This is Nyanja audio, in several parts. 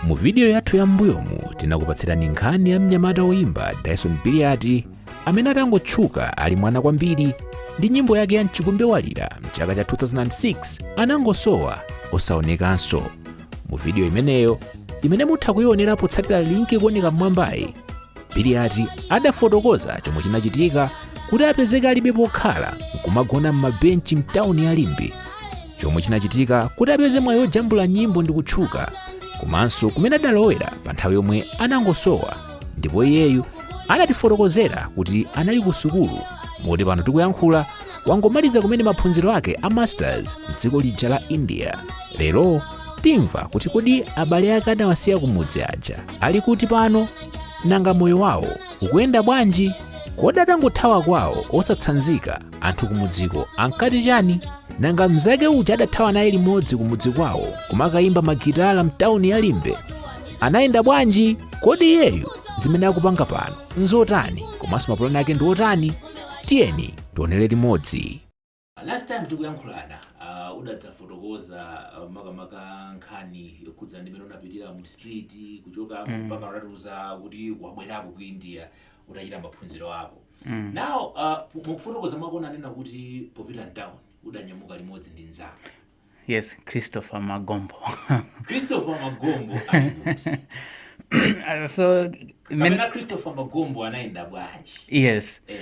mu vidiyo yathu ya m'mbuyomu tinakupatsirani nkhani ya mnyamata woyimba dyson biliati amene atangotchuka ali mwana kwambiri ndi nyimbo yake ya mchikumbe walira mchaka cha 2006 anangosowa osaonekanso mu vidiyo imeneyo imene mutha kuionera potsatira linki ikuoneka m'mwambayi biliati adafotokoza chomwe chinachitika kuti apezeke alibe pokhala nkumagona m'mabenchi mtawuni ya limbe chomwe chinachitika kuti apeze mwayi wojambula nyimbo ndi kutchuka komanso kumene adalowera pa nthawi yomwe anangosowa ndipo iyeyu anatifotokozera kuti anali ku sukulu moti pano tikuyankhula wangomaliza kumene maphunziro ake a masters m'dziko lija la india lero timva kuti kodi abale ake adawasiya kumudzi aja ali kuti pano nanga moyo wawo ukuyenda bwanji kodi atangothawa kwawo osatsanzika anthu kumudziko ankati chani nanga mnzake uja adathawa naye limodzi kumudzi kwawo kumakayimba magitala mtawuni ya limbe anayenda bwanji kodi iyeyu zimene akupanga pano nzotani komanso mapulani ake ndi otani tiyeni tionere limodzi Last time tikuyankhulana uh, udadzafotokoza uh, makamaka nkhani yokhudzana ndi mmene unapitira mu street kuchoka mm. mpaka unatiuza kuti wabwerako ku India utachita maphunziro ako mm. now uh, mukufotokoza mwako unanena kuti popita mtown udanyamuka limodzi ndi mnzako yes christopher magombo christopher magombo ali kuti Uh, kapena christopher magombo anayenda bwanji yes eh,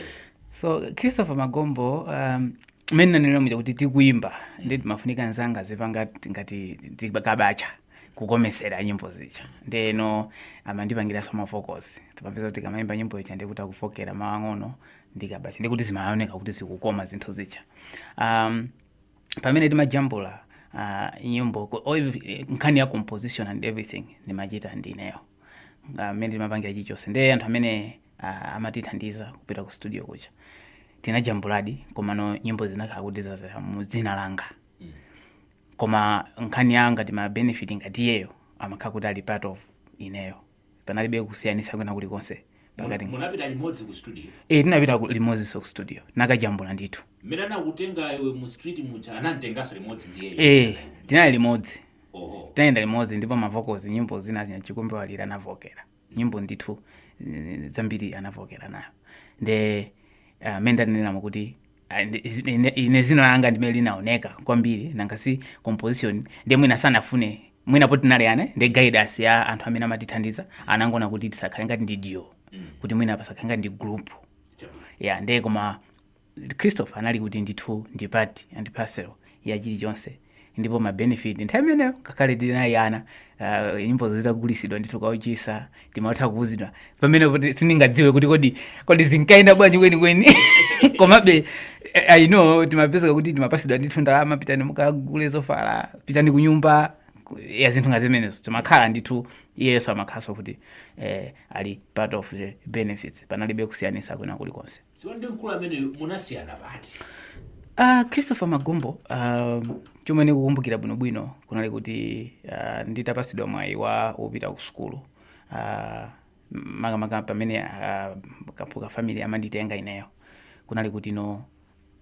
so christopher magombo um, mmene ndanena muja kuti tikuimba nde pamafunika nzanga azipanga ngati tikabacha kukomesera nyimbo zija ndeno amandipangiranso mavokozi timapeza kuti ukamaimba nyimbo ija ndikuti akuvokera mawu ang'ono ndikabacha ndikuti zimaoneka kuti zikukoma zinthu zija um, pamene timajambula uh, nyimbo ku- o- eh, nkhani ya composition and everything ndimachita ndineyo mmene timapangira chilichonse ndiye anthu amene uh, amatithandiza kupita ku studio kuja tinajambuladi komano nyimbo zinakhala kuti zazera mu dzina langa koma nkhani ya ngati mabenefit ngati iyeyo amakhala kuti ali part of ineyo panalibe kusiyanitsa kwina kulikonse pakati Mu- munapita limodzi ku studio e, tinapita ku- limodzinso ku studio nkukajambula ndithu mmene anakutenga iwe mu street muja anamtenganso limodzi ndi iwe e, tinali limodzi oho tinayenda limodzi ndipo mavokozi nyimbo zina za mchikumbe walira anavokera nyimbo ndithu eh, zambiri anavokera nayo nde mmene uh, ndaneneramo kuti Ah, ndi- izi- ine- ine dzina langa ndi limene linaoneka kwambiri nanga si composition ndiye mwina sanafune mwina poti tinali ana ndi guidance ya anthu amene amatithandiza anangoona kuti tisakhale ngati ndi duo kuti mwina pasakhale ngati ndi group ya nde koma christopher anali kuti ndithu ndi part and parcel ya chilichonse ndipo ma benefit nthawi imeneyo ngakhale tinali ana uh, nyimbozo zikagulisidwa ndithu kawuchisa timatha kuuzidwa pamene kuti sindingadziwe kuti kodi kodi zinkayenda bwanji kwenikweni komabe eh, i know timapezeka kuti timapasidwa ndithu ndalama pitani mukagule zovala pitani kunyumba ku- ya zinthu ngati zimenezo timakhala ndithu iyeso amakhalanso kuti eh, ali part of the benefits panalibe kusiyanisa kwina kulikonse so ndi mkulu ameneyo munasiyana pati Uh, christopher magombo uh, chomwe ndikukumbukira bwinobwino kunali kuti uh, nditapasidwa mwayi wa wopita ku sukulu uh, makamaka pamene uh, kaphuka family amanditenga ineyo kunali kuti no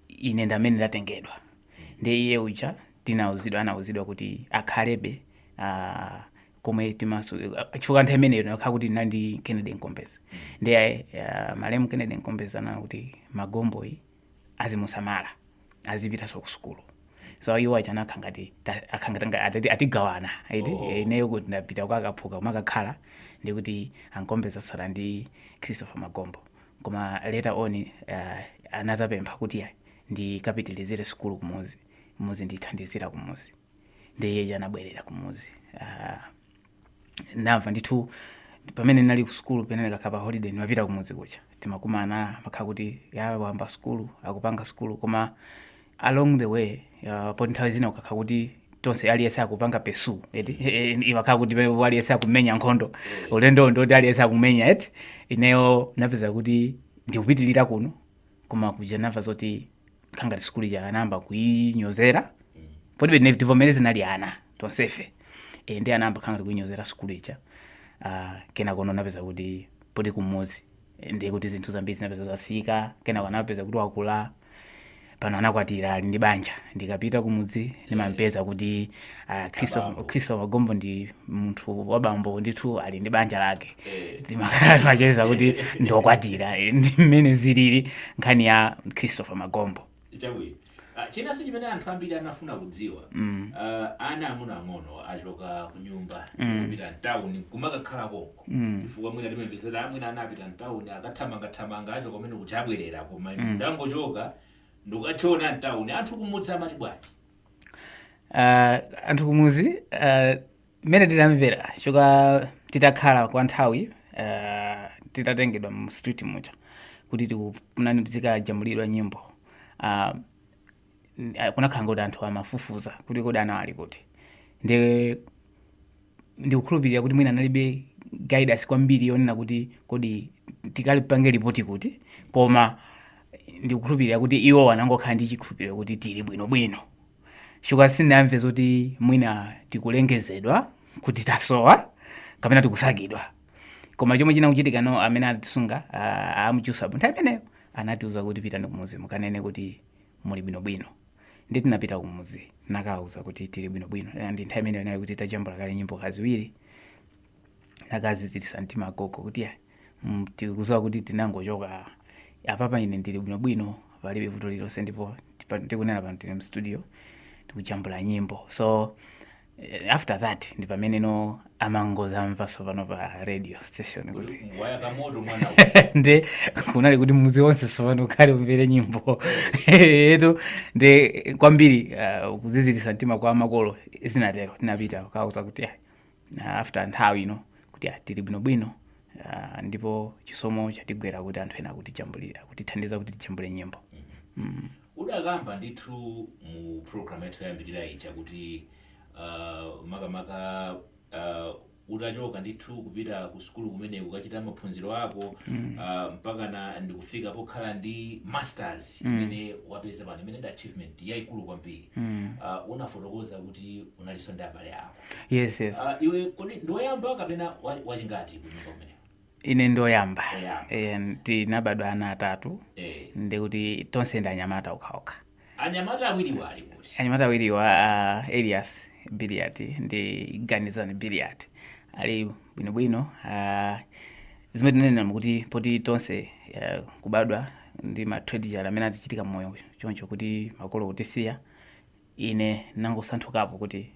ine ndamene ndatengedwa ndi iye uja tinauzidwa anauzidwa kuti akhalebe uh, kumwe timaso chifukwa nthawi imeneyo nakhala kuti tinali ndi kennedy nkombeza ndiye uh, malemu kennedy nkombeza ananena kuti magomboyi azimusamala azipitanso ku sukulu so iwo aja anakha ngati ta- akha ngati nga- atati- atigawana iti Eh, ineyo kuti ndapita kwa akaphuka umakakhala ndi kuti ankombeza asala ndi christopher magombo koma later on uh, anazapempha kuti ayi, ndikapitilizire sukulu kumuzi muzi ndithandizira kumuzi ndiye iyeyi anabwerera kumudzi Ah, ndamva ndithu pamene ndinali ku sukulu pamene ndikakhala pa holiday ndimapita kumudzi kuja timakumana amakhala kuti ya wayamba sukulu akupanga sukulu koma along the way uh, poti nthawi zina ukakhala kuti tonse aliyense akupanga pursue eti imakhala kuti pamene aliyense akumenya nkhondo ulendo ndoti aliyense akumenya eti ineyo napeza kuti ndikupitirira kuno koma kuja namva zoti khangati sukulu ija anayamba kuinyozera poti pena tivomereze tinali ana tonsefe e, ndi anayamba khangati kuinyozera sukulu ija uh, kenako napeza kuti poti kumuzi eh, ndiye kuti zinthu zambiri zinapeza zasintha kenako anapeza kuti wakula pano anakwatira ali ndi banja ndikapita kumudzi ndimampeza kuti Ah, Chris wa- Abambo. Christopher magombo ndi munthu wabambo ndithu ali ndi banja lake Eh. timakhala timacheza kuti ndiokwatira eh, ndi mmene zilili nkhani ya christopher magombo chabwino Ah, chinanso chimene anthu ambiri anafuna kudziwa Mm. ah, ana ang'ono ang'ono achoka ku nyumba Mm. kupita mtawuni kumakakhala konko Mm. chifukwa mwina timamvesera mwina anapita mtawuni akathamangathamanga achoka kumene kuti abwerera koma Mm. angochoka ndikukachona mtawuni anthu kumudzi amati bwanji Ah, anthu kumuzi ah, mmene tidamvera choka titakhala kwa nthawi ah, titatengedwa mu street muja kuti tikutini tizikajambulidwa nyimbo Ah, n- ah, kunakhala ngoti anthu amafufuza kuti kodi anawa ali kuti ndi ndikukhulupirira kuti mwina analibe guidance kwambiri yonena kuti kodi tikalipange lipoti kuti koma ndikukhulupirira kuti iwo anangokhala ndi chikhulupiriro kuti tili bwinobwino chifukwa sindinamve zoti mwina tikulengezedwa kuti tasowa kapena tikusakidwa koma chomwe chinachitika ndi chakuti amene atisunga ah, abusa pa nthawi imeneyo anatiuza kuti pitani kumudzi mukanene kuti muli bwinobwino. Ndiye tinapita kumudzi nakawauza kuti tili bwinobwino. Eh, Ndiye nthawi imeneyo inali kuti tajambula kale nyimbo kaziwiri nakaziziritsa mtima agogo kuti "Ah, mm, tikudziwa kuti tinangochoka apapa ine ndili bwinobwino palibe vuto lililonse ndipo tipa- tikunena pano tili mstudio tikujambula nyimbo so after that ndi pamene no amangodzamva tsopano pa radio station kuti wayaka moto mwana nde kunali kuti mudzi wonse tsopano ukhale umvere nyimbo yathu nde kwambiri uh, kuziziritsa mtima kwa makolo zinatero tinapita kukawauza kuti ah, ah, after nthawi ino kuti ah, tili bwinobwino ah, ndipo chisomo chatigwera kuti anthu ena akutijambulira akutithandiza kuti tijambule nyimbo Udakamba ndithu mu program yathu yoyambirira ija kuti uh, makamaka uh, utachoka ndithu kupita ku sukulu kumene ukachita maphunziro ako mm. uh, mpakana ndikufika pokhala ndi masters mm. imene mm. wapeza pano imene ndi achievement yaikulu kwambiri mm. uh, unafotokoza kuti unalinso ndi abale ako yes, yes. Uh, iwe kodi ndiwoyamba kapena wachingati kunyumba kumeneko Ine ndi oyamba e, tinabadwa ana atatu e. ndi kuti tonse ndi anyamata okhaokha. Anyamata awiriwa ali kuti? Anyamata awiriwa uh, Elias Billiat ndi Ganizani Billiat ali bwinobwino uh, zimene tinanena kuti poti tonse uh, kubadwa ndi ma tragedy amene atichitikira mmoyo choncho kuti makolo kutisiya Ine ndinangosunthukapo kuti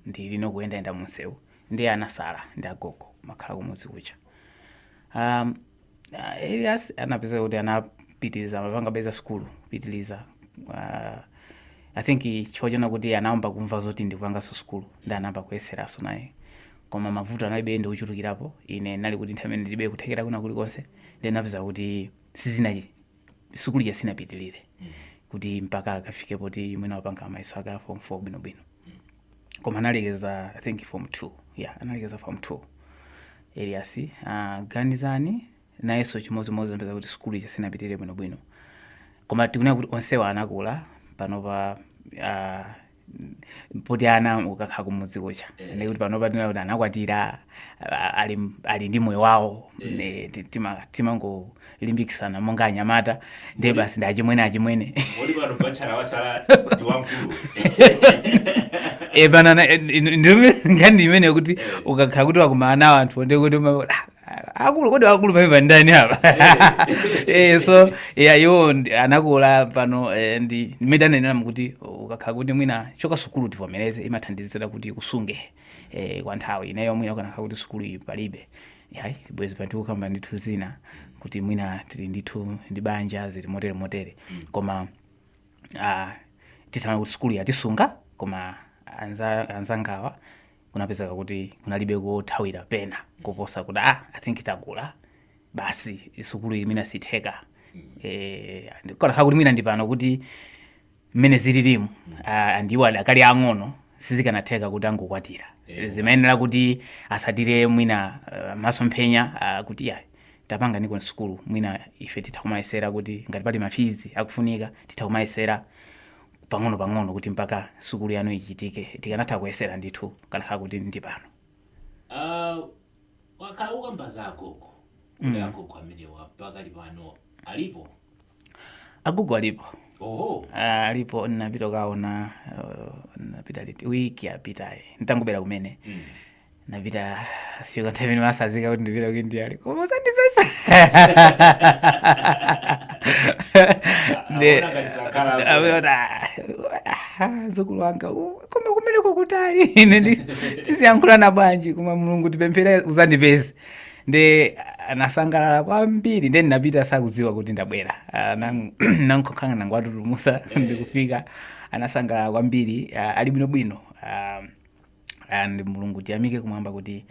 ndili no kuyendayenda mu msewu, ndiye anatsala ndi agogo kumakhala kumudzi kuja. A, a Elias anapezeka kuti anapitiriza amapangabe za sukulu kupitiriza a, I think chifukwa chona kuti anayamba kumva zoti ndikupanganso sukulu ndi anayamba kuyeseranso naye koma mavuto analibe ochulukirapo ine ndinali kuti nthawi imene ndilibe kuthekera kwina kulikonse ndiye zinapezeka kuti sizina sukulu ija sinapitirire kuti mpaka akafike poti mwina wapanga mayeso ake a form 4 bwinobwino koma analekeza i think form 2 yeah analekeza form 2 elias uh, ganizani nayenso chimodzimodzi zinapezeka kuti sukulu ija sinapitirire bwinobwino koma tikunena kuti onsewa anakula panopa uh, poti ana ukakhala kumudzi kucha Eh. ndi kuti panopa tinena kuti anakwatira a- ali, ali ndi moyo wawo Eh. Ne, ti- tima- timangolimbikisana monga anyamata ndiye Kodi- basi ndi achimwene achimwene Kodi pano bachala watsala ndi wamkulu. e pano ana- eh, ndi- ndi- nkhani imene kuti Eh. ukakhala kuti wakumana nawo anthu ndi kuti uma- ah, akulu kodi akulu pamene ndani apa eh so ya iwo ndi- anakula pano eh, ndi mmene ndanenera kuti ukakhala kuti mwina chokha sukulu tivomereze imathandizira kuti ikusunge eh, kwa nthawi ineyo mwina ikanakhala kuti sukulu iyi palibe yayi bwezi pano tikukamba ndithu zina kuti mwina tili ndithu ndi banja zili motere motere koma ah, titanena kuti sukulu yatisunga koma anza- anzangawa kunapezeka kuti kunalibe kothawira pena koposa kuti ah, i think tagwa basi sukulu iyi mwina siitheka eh, and ikanakhala kuti mwina ndi pano kuti mmene zililimu ah, and iwo adakali ang'ono sizikanatheka kuti angokwatira zimayenera kuti atsatire mwina ah, masomphenya ah, kuti ya tapanganiko sukulu mwina ife titha kumayesera kuti ngati pali mafizi akufunika titha kumayesera pang'ono pang'ono kuti mpaka sukulu yanu ichitike tikanatha kuyesera ndithu ikanakhala kuti ndi pano Ah, wakhala ukukamba za agogo kuti agogo amenewa pakali pano alipo agogo alipo oho Ah, alipo ndinapita kukaona uh, ndinapita liti wiki yapitayi nditangobwera kumene Mm. napita nthawi imene ndimatsanzika kuti ndipita ku india ali koma uzandipeza Nde- Aona ngati sakhala hapo. Ameona, ah, mdzukulu wanga uh, koma kumeneko nkutali ine ndi- tiziyankhulana bwanji koma mulungu tipemphere uzandipeze nde anasangalala kwambiri nde ndinapita sakudziwa kuti ndabwera Ah, nang- ndinangoka- nangowatutumutsa ndikufika anasangalala kwambiri ah, ali bwinobwino Ah, and mulungu tiyamike kumwamba kuti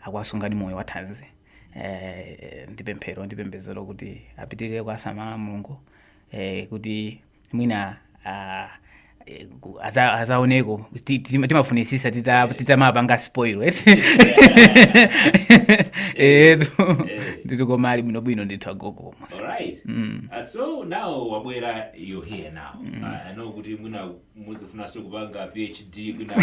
akuwasungabe moyo wathanzi eh, ndi pemphero ndi pembedzero kuti apitirire kuwasamala mulungu eh, kuti mwina ah, eh, ku- aza- azaoneko Ti- ti- timafunitsitsa tita- titamawapanga spoil eti etu ndithu koma ali bwinobwino ndithu agogo All right. Uh, so now wabwera you're here now. Uh, I know kuti mwina mudzafunanso kupanga phd kwina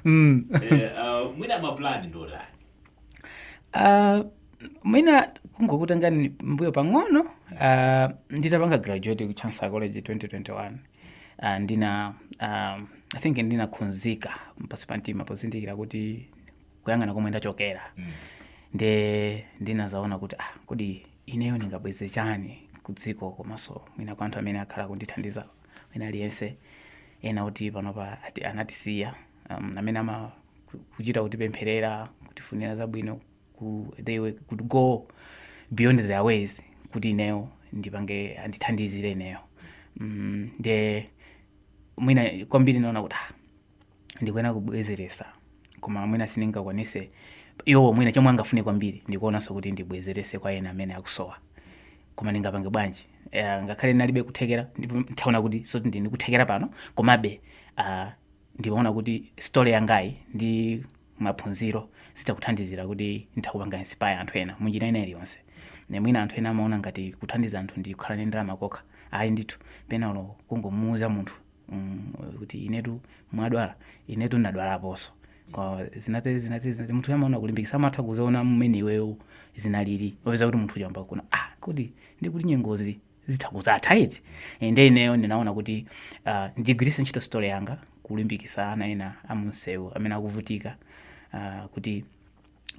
mm. eh, uh, mwina mapulani ndi otani uh, mwina kungokutengani mbuyo pang'ono uh, nditapanga graduate ku chancellor college 2021 uh, ndina um, i think ndinakhudzika pansi pa mtima pozindikira kuti kuyang'ana komwe ndachokera mm. nde ndinazaona kuti ah, kodi ineyo ndingabweze chani kudziko komanso mwina kwa anthu amene akhala akundithandiza wina aliyense ena kuti panopa ati anatisiya um, amene ama ku- kuchita kutipempherera kutifunira zabwino ku, they would, could go beyond their ways kuti ineyo ndipange andithandizire ineyo mm, nde mwina kwambiri naona kuti ah, ndikuyenera kubwezeresa koma mwina sindingakwanise iwowo mwina chomwe angafune kwambiri ndikuonanso kuti ndibwezerese kwa ena amene akusowa koma ndingapange bwanji uh, ngakhale ndinalibe kuthekera ndipo ntaona kuti soti ndili ndi kuthekera pano komabe uh, ndimaona kuti story yangayi ndi maphunziro zitha kuthandizira kuti nditha kupanga inspire anthu ena munjira ina iliyonse Ne mwina anthu ena amaona ngati kuthandiza anthu ndi kukhala ndi ndalama zokha ayi ndithu pena olo kungomuuza munthu mm, kuti inetu mwadwala inetu ndadwalaponso Kwa zinatezi zinatezi zinatezi. munthu amaona kulimbikisa amatha kuziona mmene iweyo zinalili opeza kuti munthu wayamba kuona ah kodi ndikuti nyengozi zitha kuzatha liti Eh, nde ineyo ndinaona kuti ah, ndigwiritse ntchito story yanga kulimbikisa ana ena amunsewu amene akuvutika ah, kuti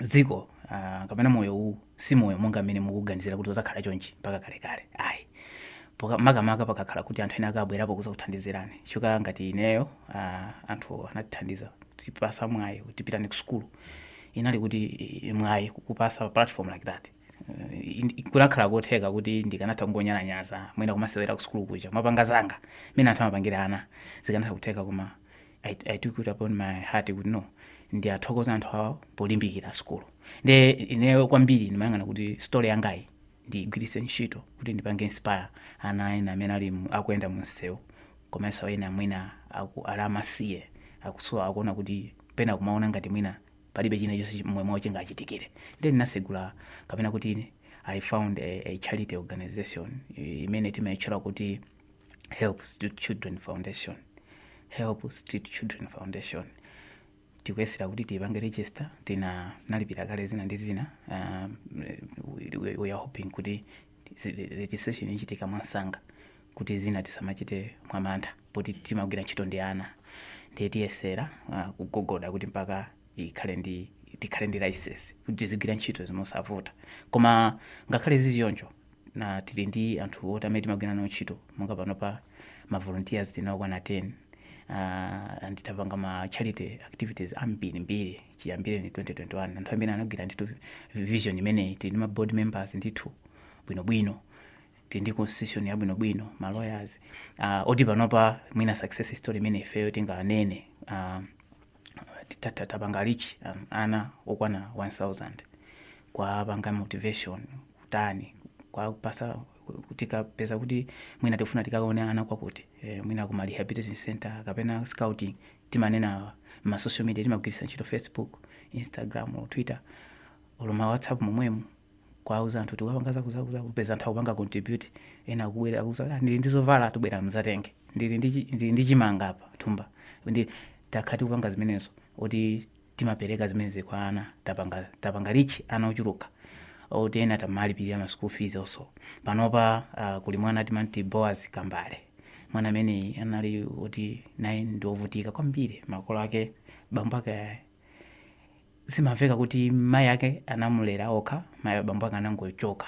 dziko ah, kapena moyo uwu si moyo monga mmene mukuganizira kuti uzakhala chonchi mpaka kalekale ayi Poka- makamaka pakakhala kuti anthu ena akabwerapo kuzakuthandizirani chifukwa ngati ineyo ah, anthu anatithandiza tipasa mwayi kuti pitani ku sukulu inali kuti eh, mwayi kupasa platform like that Eh, in- kunakhala kotheka kuti ndikanatha kungonyalanyaza mwina kumasewera ku sukulu kuja kumapanga zanga mmene anthu amapangira ana zikanatha kutheka koma I, I took it upon my heart kuti no ndiwathokoze anthu awo polimbikira sukulu nde ineyo kwambiri ndimayang'ana kuti story yangayi ndigwiritse ntchito kuti ndipange inspire ana ena amene ali mu- akuyenda mu msewu komanso ena mwina aku- ali amasiye akusowa akuona kuti pena kumaona ngati mwina palibe china chonse chi- momwe mwawo chingachitikire nde ndinasegula kapena kuti I found a, a charity organization eh, imene timayitchula kuti help street children foundation help street children foundation tikuyesera kuti tiyipange register tina nalipira kale zina ndi zina um, we- we- we are hoping kuti zi- registration ichitika mwamsanga kuti zina tisamachite mwamantha poti timagwira ntchito ndi ana ndiye tiyesera uh, kugogoda kuti mpaka ikhale ndi tikhale ndi license kuti tizigwira ntchito mosavuta koma ngakhale zili choncho na tili ndi anthu oti amene timagwira nawo ntchito monga panopa ma volunteers tili nawo okwana 10 uh, and tapanga ma charity activities ambiri mbiri chiyambireni 2021 anthu amene anagwira ndithu vision imeneyi tili ndi ma board members ndithu bwinobwino tili ndi constitution yabwinobwino ma lawyers uh, oti panopa mwina success story imene ifeyo tinganene uh, tapanga reach um, ana okwana 1000 kwapanga motivation kutani kwapasa tikapeza kuti mwina tikufuna tikawaone ana kwakuti eh, mwina kuma rehabilitation center kapena scouting timanena ma social media timagwiritsa ntchito facebook instagram or twitter olo ma whatsapp momwemo kuwauza anthu tikapanga zakutizakuti kupeza anthu akupanga contribute ena akubwera akuuza kuti "Ah, ndili ndi zovala tabwerani mudzatenge ndili ndi chi- ndili ndi chimanga apa thumba nde takhala tikuti kupanga zimenezo oti timapereka zimenezi kwa ana tapanga tapanga reach ana ochuluka oti ena tamalipirira ma school fees also panopa uh, kuli mwana timamuti boaz kambale mwana amene anali woti naye ndi wovutika kwambiri makolo ake bambo ake zimamveka kuti mai ake anamulera okha mai ah bambo ake anangochoka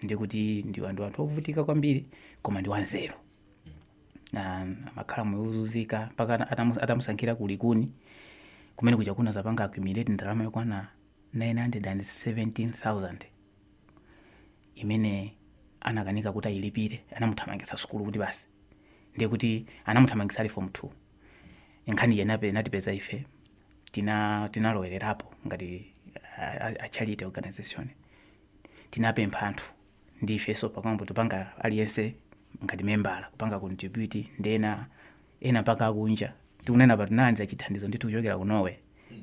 ndi kuti ndiwa ndi anthu ovutika kwambiri koma ndi wanzeru Na- amakhala moyo wozunzika mpaka ata- atamu- atamusankhira kulikuni kumene kuja kunazapanga accumulate ndalama yokwana 917000 imene anakanika kuti ayilipire anamuthamangitsa sukulu kuti basi ndiye kuti anamuthamangitsa ali form 2 nkhani ija inape- inatipeza ife tina tinalowererapo ngati a charity organization tinapempha anthu ndi ifenso kumbali tikupanga aliyense ngati membala kupanga contribute ndi ena ena mpaka akunja tikunena pa tinalandira chithandizo ndithu kuchokera ku norway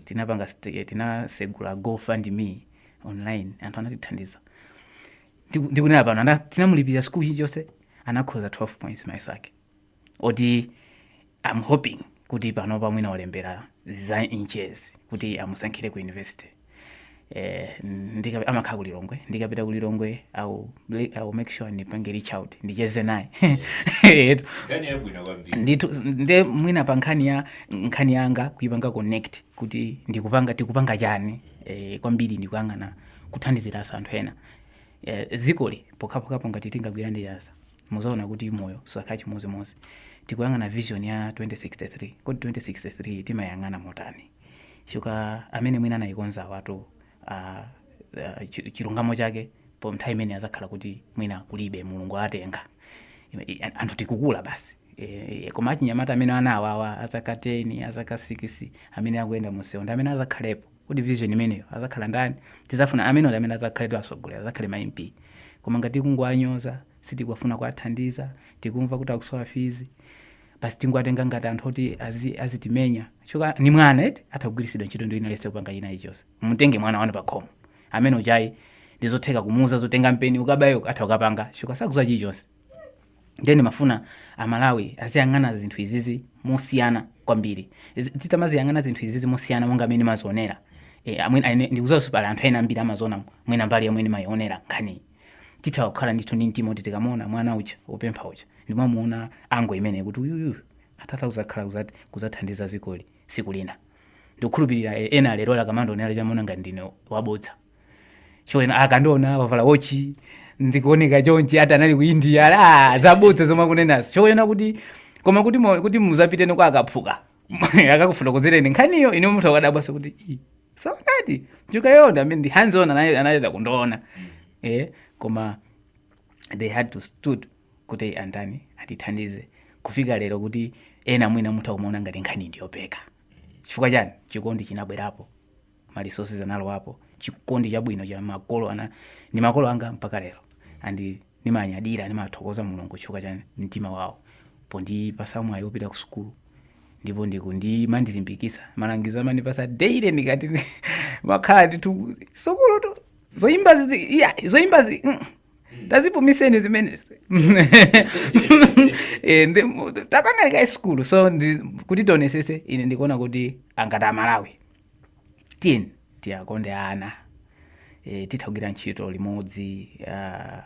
tinapanga st- tinasegula gofundme online anthu anatithandiza Ndiku- ndikunena pano ana- tinamulipirira sikulu chilichonse anakhoza 12 points mayeso ake oti am hoping kuti panopa mwina walembera za nche kuti amusankhire ku university eh, ndika- amakhala ku lilongwe ndikapita ku lilongwe I'll I'll make sure ndimpange reach out ndicheze naye Etu. nkhani yabwino kwambiri ndithu nde mwina pa nkhani ya nkhani yanga kuipanga connect kuti ndikupanga tikupanga chani eh, kwambiri ndikuyang'ana kuthandizira anthu ena eh, dzikoli pokhapokhapo ngati tingagwirane dzanja muzaona kuti moyo suzakhala chimodzimodzi tikuyang'ana vision ya 2063 kodi 2063 timayang'ana motani chifukwa amene mwina anayikonzawatu uh, uh, chi- chilungamo chake pa nthawi imene azakhala kuti mwina kulibe mulungu atenga Ime- i- anthu tikukula basi E, e, koma achinyamata amene ana awawa azaka 10 azaka 6 amene akuyenda mumsewu ndi amene azakhalepo kodi vision imeneyo azakhala ndani tizafuna amene ali amene azakhale atsogoleri azakhale ma mp koma ngati tikungowanyoza sitikufuna kuwathandiza tikumva kuti akusowa fees basi tingowatenga ngati anthu oti azi- azitimenya chifukwa ndi mwana eti atha kugwiritsidwa ntchito ndi wina aliyense kupanga china chilichonse mutenge mwana wanu pakhomo wamng'ono uja ndizotheka kumuuza zoti tenga mpeni ukabaye atha kukapanga chifukwa sakuziwa chilichonse ndiye ndimafuna amalawi aziyang'ana zinthu izizi mosiyana kwambiri Zi- titamaziyang'ana zinthu izizi mosiyana monga amene ndimazionera e, amwene aine- ndikudziwanso pali anthu ena ambiri amaziona mwina mbali yomwe ndimayionera nkhaniyi titha kukhala ndithu ndi mtima kuti tikamuona mwana uja wopempha uja ndimamuona ango imene kuti uyuyu atata uzakhala kuzat- kuzathandiza dzikoli tsiku lina ndikukhulupirira eh, ena lero akamandionera amaona ngati ndine wabodza ena akandiona wavala wochi ndikuoneka chonchi ati anali ku india ala zabodza zomwe akunenazo ena kuti koma kuti mo- kuti muzapitene kwa akaphuka akakufotokozereni nkhaniyo ine muthu akadabwanso kuti "Ii, saonadi chukayonda amene ndi hands on anali- anayeza kundiona eh koma they had to stood kuti andani atithandize kufika lero kuti ena mwina mutha kumaona ngati nkhani ndiyopeka chifukwa chani chikondi chinabwerapo ma resources analowapo chikondi chabwino cha makolo ana ndi makolo anga mpaka lero and nimanyadira nimathokoza mulungu chifukwa cha mtima wawo pondipatsa mwayi wopita ku sukulu ndipo ndikumandilimbikitsa malangizo amandipatsa daily ndikati amakhala ndithu sukulutu zoyimbazi zi- iya, zoyimbazi mm, tazipumitseni zimenezi Eh, ndi- mu- tapangani kaye sukulu so ndi- kuti tionetsetse ine ndikuona kuti ngati amalawi Tiyeni tiwakonde ana. E, titha kugwira ntchito limodzi. Uh,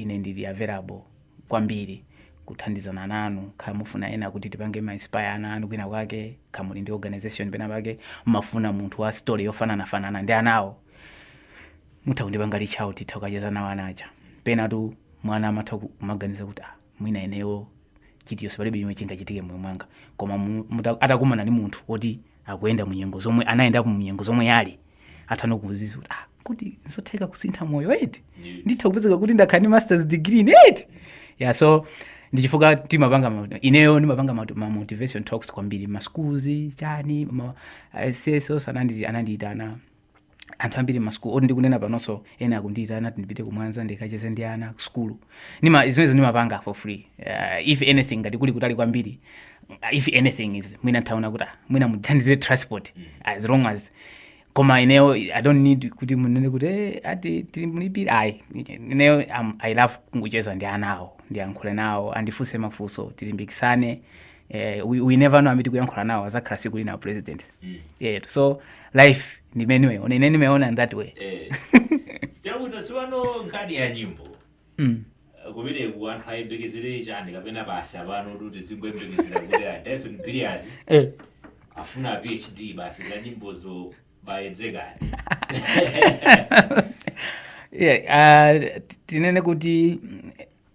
ine ndili available kwambiri kuthandizana nanu kaya mufuna ena kuti tipange ma inspire ana anu kwina kwake kaya muli ndi organization pena pake mukufuna munthu wa story yofanana fanana ndi anawo mutha kundipanga reach out titha kukacheza nawo anaja penatu mwana amatha kumaganiza kuti ah mwina ineyo chilichose palibe chomwe chingachitike moyo mwanga koma mu- muta- atakumana ndi munthu oti anayenda mu nyengo zomwe anayendapo mu nyengo zomwe iye ali atha kudziwa kuti ah, kuti nzotheka kusintha moyo eti nditha kupezeka kuti ndakhala ndi masters degree ni eti yeah so ndichifukwa timapanga ma- ineyo ndimapanga ma- ma motivational talks kwambiri ma schools chani ma CSOs anandi anandiitana anthu ambiri masukulu oti ndikunena panonso ena akundiyitana ati ndipite ku Mwanza ndikacheze ndi ana kusukulu Nima- zimenezo ndimapanga for free uh, if anything ngati kuli kutali kwambiri if anything is mwina ndaona kuti ah, mwina muthandize transport as long as koma ineyo i don't need kuti munene kuti eh, ati tilimulipire ayi ineyo um, i love kungocheza ndi anawo ndiyankhule nawo andifunse mafunso tilimbikitsane eh, we, we never know amene tikuyankhula nawo azakhala tsiku lina president mm. yeah, so life ndi mmene ndimaiona ine ndimaiona in that way eh. chabwino tsopano nkhani ya nyimbo mm. kumeneku anthu ayembekezere chani kapena basi apano kuti tizingoyembekezera kuti a Dyson Billiat eh. afuna PhD basi za nyimbozo baidekhani yeah, uh, tinene kuti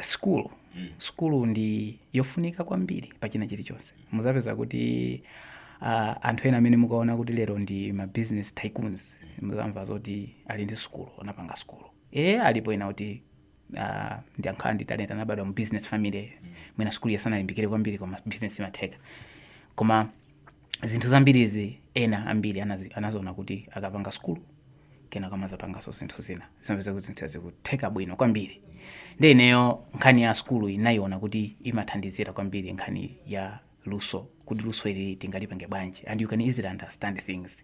sukulu sukulu ndi yofunika kwambiri pa china chilichonse muzapeza kuti uh, anthu ena amene mukaona kuti lero ndi ma business tycoons muzamva zoti ali ndi sukulu anapanga sukulu e alipo ena kuti uh, ndi angokhala ndi talent anabadwa mu business family mwina sukuluyo sanalimbikire kwambiri koma business imatheka koma zinthu zambirizi ena ambiri anazi- anaziona kuti akapanga sukulu kenako kumazapanganso zinthu zina zimapeza kuti zinthu zikutheka bwino kwambiri ndi ineyo nkhani ya sukulu ndinayiona kuti imathandizira kwambiri nkhani ya luso kuti luso ili tingalipange bwanji and you can easily understand things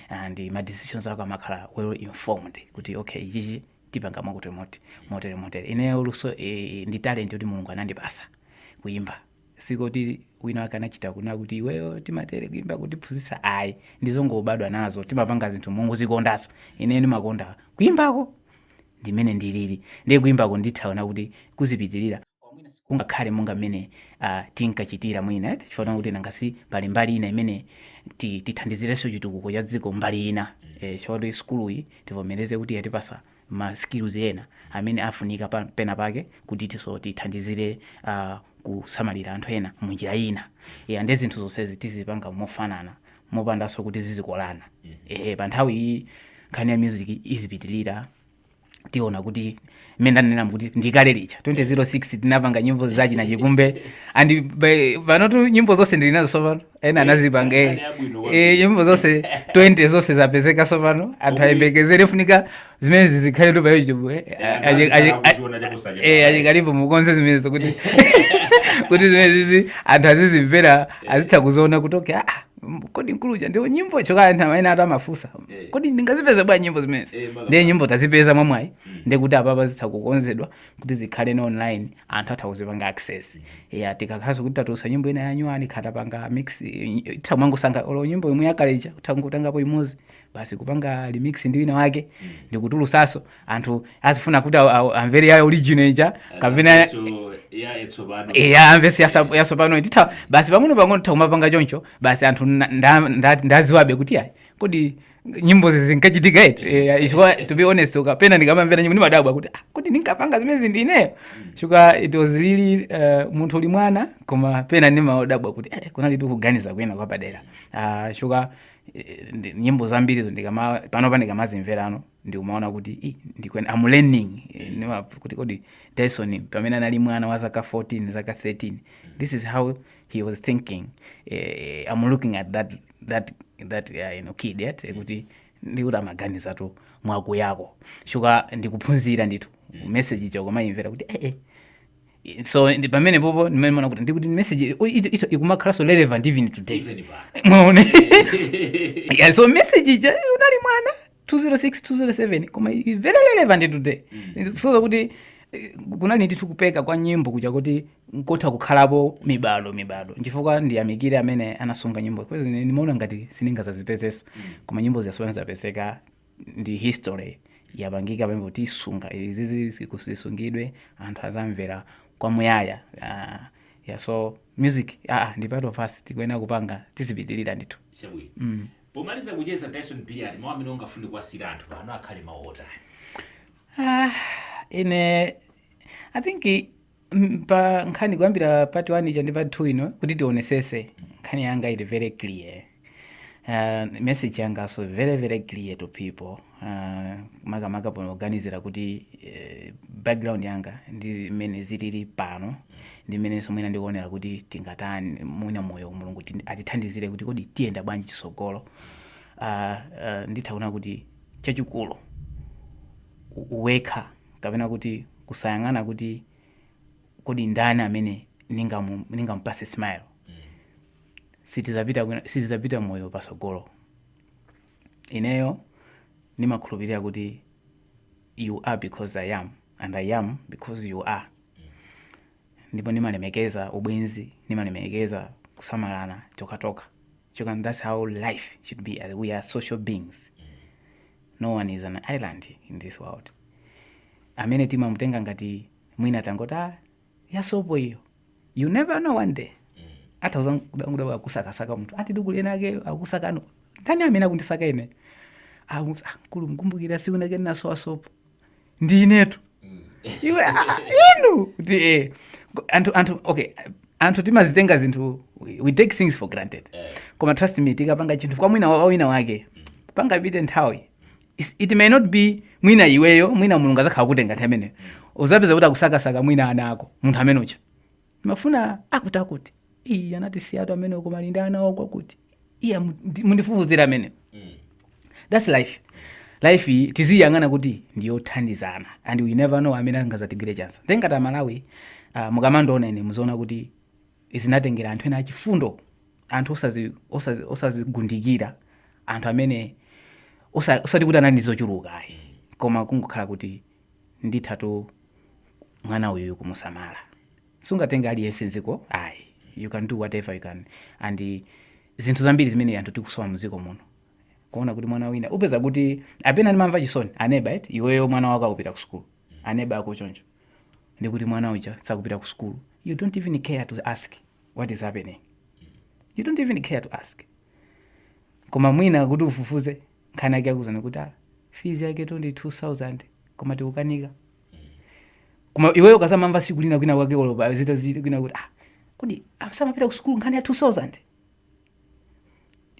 and ma decisions ako amakhala well informed kuti okay ichichi tipanga mwakuti motere motere motere ineyo luso eh, ndi talent yoti mulungu anandipasa kuyimba sikoti wina wake anachita kunena kuti iweyo timatere kuimba kutiphunzitsa ayi ndizongobadwa nazo timapanga zinthu mongozikondaso ine ndimakonda kuimbako ndimene ndilili ndiye kuimbako nditha kuona kuti kuzipitiriza kungakhale monga mmene uh, tinkachitira mwina eti chifukwa kuti nangasi pali mbali ina imene ti- tithandizirenso chitukuko cha dziko mbali ina eh, chifukwa kuti sukuluyi tivomereze kuti yatipasa ma skills ena amene afunika pena pake kuti tiyeso tithandizire a kusamalira anthu ena mu njira ina ya nde zinthu zonsezi tizipanga mofanana mopandaso kuti zizikolana ehe pa nthawi iyi nkhani ya music izipitilira tiona kuti mmene ndanena kuti ndikale lija 2006 tinapanga nyimbo za china chikumbe and by- panotu nyimbo zonse ndili nazo sopano ena anazipanga eh. eh, nyimbo zonse 20 zonse zapezeka sopano anthu ayembekezere funika zimenezi zikhaletu pa youtube eh. eh, eh achikalipo mukonze zimenezo kuti kuti zimenezizi anthu azizimvera azitha kuziona kuti okay ah, kodi nkuluja ndiwo nyimbo chokala anthu amene anthu amafunsa kodi ndingazipeze bwa nyimbo zimenezi ndiye nyimbo tazipeza mwamwayi mm. ndiye kuti apapa zitha kukonzedwa kuti zikhaleno online anthu atha kuzipanga access ya tikakhalaso kuti tatulutsa nyimbo ina yanyuwani kaya tapanga mix eh, tisamangosanga olo nyimbo imwe yakale ija kutha kutengapo imodzi basi kupanga remix ndi wina wake ndikutulusaso anthu azifuna kuti aw- aw- amvere ya original ija kapena So, ya etsopano eya amvereso yasa- yasopano titha basi pang'ono pang'ono titha kumapanga choncho basi anthu nda- nda- nda- adziwabe kuti ayi kodi nyimbozi zinkachitika eti eh, chifukwa to be honest okay pena ndikamamvera nyimbo ndimadabwa kuti ah, kodi ndinkapanga zimenezi ndineyo chifukwa it was really uh, munthu uli mwana koma pena ndimadabwa kuti eh, kunalitu kuganiza kwina kwapadera uh, chifukwa eh, ndi- nyimbo zambirizo ndikama panopa ndikamazimverano ndikumaona kuti "Ih, ndikuti I'm learning Eh, ndima- kuti kodi dyson pamene anali mwana wa zaka 14 zaka 13 this is how he was thinking eh, i'm looking at that that that uh, you know, kid yet mm. kuti ndikuti umaganizatu mwakuyako shuka ndikuphunzira ndithu mm. message yako ukamayimvera kuti eh, eh so pamenepopo ndimaona kuti ndikuti message ikumakhalanso relevant even today mwaona yeah, so message ija unali mwana 206 207 koma i- very relevant today zosonyeza kuti eh, kunali ndithu kupeka kwa nyimbo kuja kuti nkotha kukhalapo mibado mibado nchifukwa ndiyamikire amene anasunga nyimbo because ine ndimaona ngati sindingazazipezenso koma nyimbo zija pano zapezeka ndi history yapangika pamene kuti kusunga izizi ziku- zisungidwe anthu azamvera kwamuyaya Ah, yeah, so music ah, ah, ndi part of us tikuyenera kupanga tizipitirira ndithu chabwino Pomaliza kucheza Dyson Billiat mau amene ungafune kuwasiyira anthu pano akhale mau otani? Ah, ine I think i- m- pa nkhani kuyambira part 1 ija ndi part 2 ino kuti tionetsetse nkhani yanga ili very clear uh, message yanganso very very clear to people uh, makamaka poganizira kuti uh, background yanga ndi mmene zilili pano ndi mmenenso mwina ndikuonera kuti tingatani mwina moyo mulungu tindi- atithandizire kuti kodi tiyenda bwanji chitsogolo uh, uh, nditha kuona kuti chachikulu u- wekha kapena kuti kusayang'ana kuti kodi ndani amene ningamu- ningamupase smile sitizapita kwina- sitizapita moyo pasogolo ineyo ndimakhulupirira kuti you are because i am and i am because you are ndipo ndimalemekeza ubwenzi ndimalemekeza kusamalana tokhatokha chifukwa that's how life should be as we are social beings no one is an island in this world amene timamutenga ngati mwina tangoti "Ah, ya sopo iyo you never know one day atha kudzadabwa akusakasaka munthu ati akulu ena ake akusakani ndani amene akundisaka ine Ah, munthu, ah, mkulu mkumbukira siku nake ndinasowa sopo ndi inetu iwe ah, ah, inu kuti eh Go- anthu anthu okay anthu timazitenga zinthu we- we take things for granted koma trust me tikapanga chinthu kwa mwina wa- wina wake pangapite nthawi It's- it may not be mwina iweyo mwina mulungu azakhala kutenga nthawi imeneyo uzapeza kuti akusakasaka mwina ana ako munthu amene uja mumafuna akuti akuti iyi anati siyatu amene uko malindi ana ako akuti iya mundi- mundifufuzira amene that's life life iyi tiziyang'ana kuti ndiyothandizana and we never know amene angazatigwire chance nde ngati amalawi uh, mukamandiona ine muziona kuti zinatengera anthu ena achifundo anthu osazi- osazi- osazigundikira anthu amene osa- osati kuti anali ndi zochuluka ayi koma kungokhala kuti ndithatu mwana uyu kumusamala sungatenge aliyense mdziko ayi you can do whatever you can and eh, zinthu zambiri zimene anthu tikusowa mdziko muno kuona kuti mwana wina upeza kuti pena ndimamva chisoni aneba eti iweyo mwana wako akupita ku sukulu aneba ako choncho ndi kuti mwana uja sakupita ku sukulu you don't even care to ask what is happening you don't even care to ask koma mwina kuti ufufuze nkhani yake akuuzanso kuti ah, fees yaketu ndi 2000 koma tikukanika koma iweyo ukadzamamva siku lina kwina kwake olo padzika dzika kwina kuti ah kodi asamapita ku sukulu nkhani ya 2000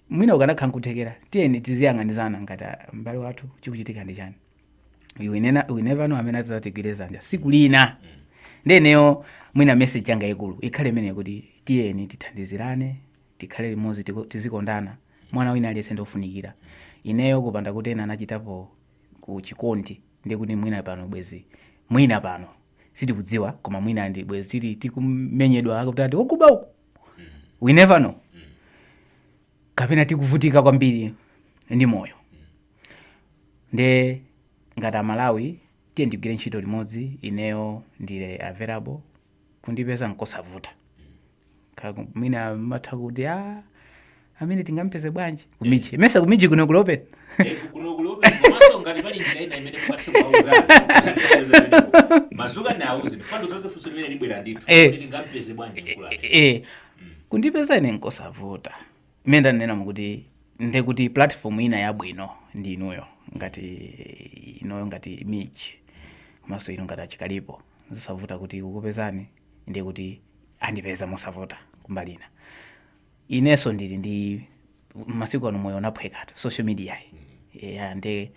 mwina ukanakhala nkuthekera tiyeni tiziyang'anizana ngati ah, m'bale wathu chikuchitika ndi chani You will nena- we never know amene adzatigwire zanja siku lina nde ineyo mwina message yanga ikulu ikhale imeneyi kuti tiyeni tithandizirane tikhale limodzi tiku- tizikondana mwana wina aliyense ndiofunikira ineyo kupanda kuti ena anachitapoko chikondi ndi kuti mwina pano bwezi mwina pano sitikudziwa koma mwina ndi bwezi tili tikumenyedwa kuti ati okuba uku we never know kapena tikuvutika kwambiri ndi moyo nde ngati amalawi tiyeni tigwire ntchito limodzi ineyo ndili available kundipeza nkosavuta Kaku- mwina amatha kuti a amene tingamupeze bwanji ku Mij mesa ku Mij kuno kulipo kundipeza ine nkosavuta imene ndanenamu kuti nde kuti platform ina yabwino ndi inuyo ngati inuyo ngati Mij komanso inu ngati a Chikalipo nzosavuta kuti akupezani ndi kuti andipeza mosavuta kumbali ina inenso ndili ndi masiku ano moyo unaphwekatu social media-yi yeah, nde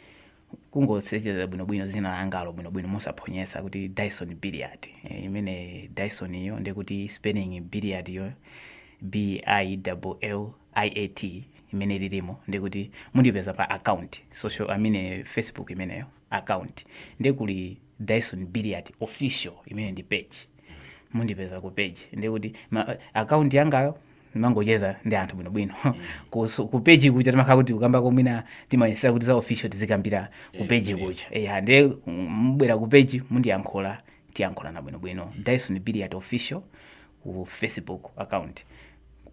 kungosetchera bwinobwino dzina langalo bwinobwino mosaphonyetsa kuti Dyson Billiat Eh, imene Dyson iyo nde kuti spelling Billiat iyo BILLIAT imene lilimo nde kuti mundipeza pa account social amene facebook imeneyo account nde kuli Dyson Billiat official imene ndi page mundipeza ku page ndi kuti ma, account yangayo ndimangocheza ndi anthu bwinobwino Kuso- ku page kuja timakhala kuti kukamba koma mwina timayesera kuti za official tizikambira ku page kuja eya nde mubwera ku page mundiyankhula tiyankhulana bwinobwino Dyson Billiat official ku Facebook account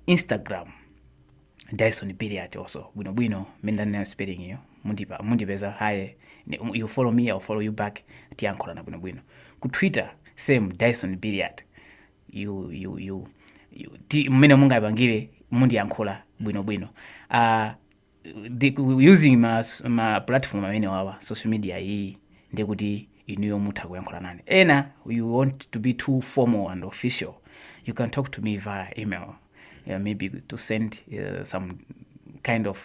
Instagram Dyson Billiard also bwino bwino mmene ndanenera spelling yo mundipeza haye ne- um, you follow me I'll follow you back tiyankhulana bwino bwino ku Twitter same Dyson Billiard you you you, you ti mmene mungapangire mundiyankhula bwino bwino uh, the, using ma, ma platform amene wawa social media iyi ndikuti inuyo mutha kuyankhula nane ena you want to be too formal and official you can talk to me via email uh, maybe to send uh, some kind of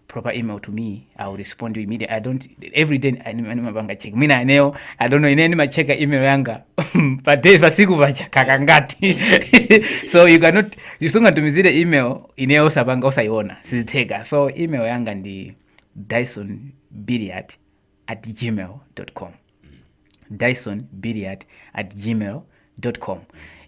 proper email to me i'll respond to you immediately i don't every day animapanga check mina eneo i don't know ine nimacheka email yanga pa day pa siku pacha kakangati so you cannot isungatumizire email ineyo osapanga osaiona sizitheka so email yanga ndi dyson billiard at gmail com dyson billiard at gmail com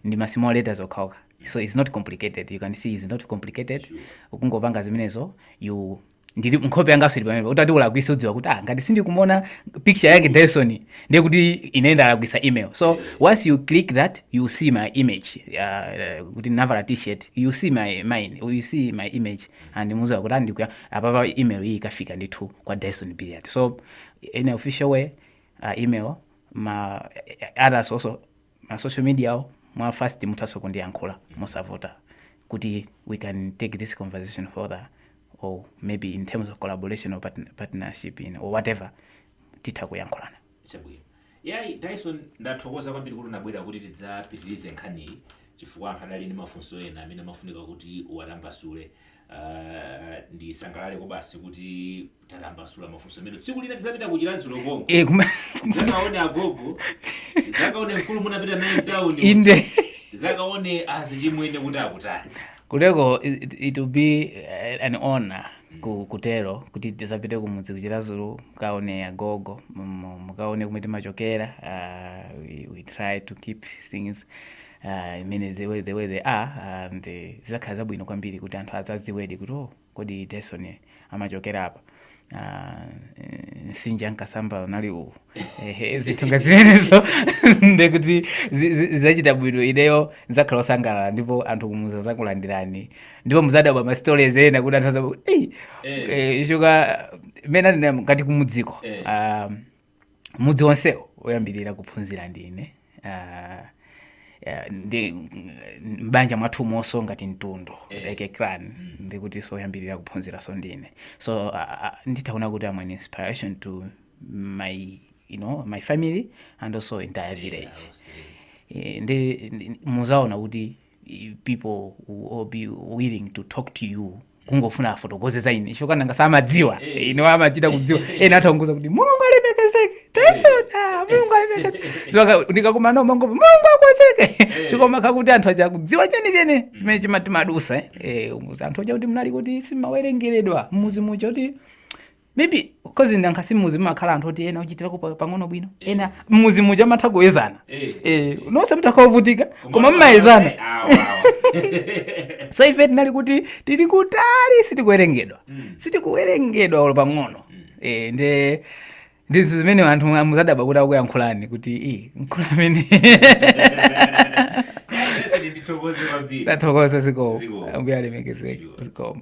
ndi ma small letters okhaokha so its not complicated you can see its not complicated ukungopanga zimenezo you ndili nkhope yangaso ili pompa utati walakwitsa udziwa kuti ah ngati sindikumona picture yake dyson ndiye kuti ine ndalakwisa email so once you click that you see my image uh, uh, kuti navala t-shirt you see my mine you see my image andimuza kuti andikuya apapa email iyi ikafika ndithu kwa Dyson Billiard so in official way uh, email ma others onso ma social media awo mwa first muthanso kundiyankhula mosavuta kuti we can take this conversation further or maybe in terms of collaboration or partn- partnership you know, or whatever titha kuyankhulana Chabwino. Yayi, Dyson ndathokoza kwambiri kuti unabwera kuti tidzapitirize nkhaniyi chifukwa anthu adali ndi mafunso ena amene amafunika kuti uwatambasule. Uh, ndisangalale kobasi kuti tatambasula mafunso amene tsiku lina tidzapita ku Chiradzulu konko. Eh, kuma- Zakaone agogo, zakaone mfulu munapita naye mtauni. inde Zakaone azichimwene kuti akutani. kutero it, it, it will be eh, an honor ku, kutero kuti tizapite kumudzi ku Chiradzulu mukaone agogo mu- mu- mukaone kumwe timachokera uh, we, we try to keep things uh, imene the way, the way they are and eh, zizakhala zabwino kwambiri kuti anthu azadziwedi kuti oh, kodi Dyson amachokera apa Ah, eh, nsinja nkasamba unali uwu Ehe, zinthu nga zimenezo ndekuti zi- zi- zachita bwino ineyo nzakhala osangalala ndipo anthu kumudzi azakulandirani ndipo muzadabwa ma stories ena kuti anthu azabu eh eh, shuka mene ngati kumudziko Eh. Ah, mudzi wonsewo oyambirira kuphunzira ndine Ah, yeah, ndi mbanja mwathu monso ngati mtundu Eh. like a clan ndikutinso oyambirira kuphunziranso ndine so ah, ah, nditaona kuti I'm an inspiration to my you know my family and also entire village Eh, ndi ndi- muzaona kuti people will be willing to talk to you kungofuna afotokoze za ine icho kaya ngakhale samadziwa Eh. ino amachita kudziwa ena atangouza kuti mulungu alemekezeke Dyson mulungu alemekezeke So ndikakumana nawo amangoti mulungu akwezeke Eh. chikoma kakuti anthu aja kudziwa chenicheni chimene timadutsa eh. Eh, umuzi anthu aja kuti munali kuti simawerengeredwa mmuzi muja kuti maybe because nanga si mmuzi mumakhala anthu oti ena ochitirako pang'ono bwino ena mmuzi muja amatha kuyezana Eh. Eh, nonse mutakhala ovutika koma mmayezana Eh, awa, awa. so ife tinali kuti tili kutali sitikuwerengedwa Mm. sitikuwerengedwa olo pang'ono Eh, nde ndizo zimene anthu muzadabwa kuti akuyankhulani kuti "Ih, mkulu amene tathokoza zikomo Zikomo. ambuye alemekezeke Sure. zikomo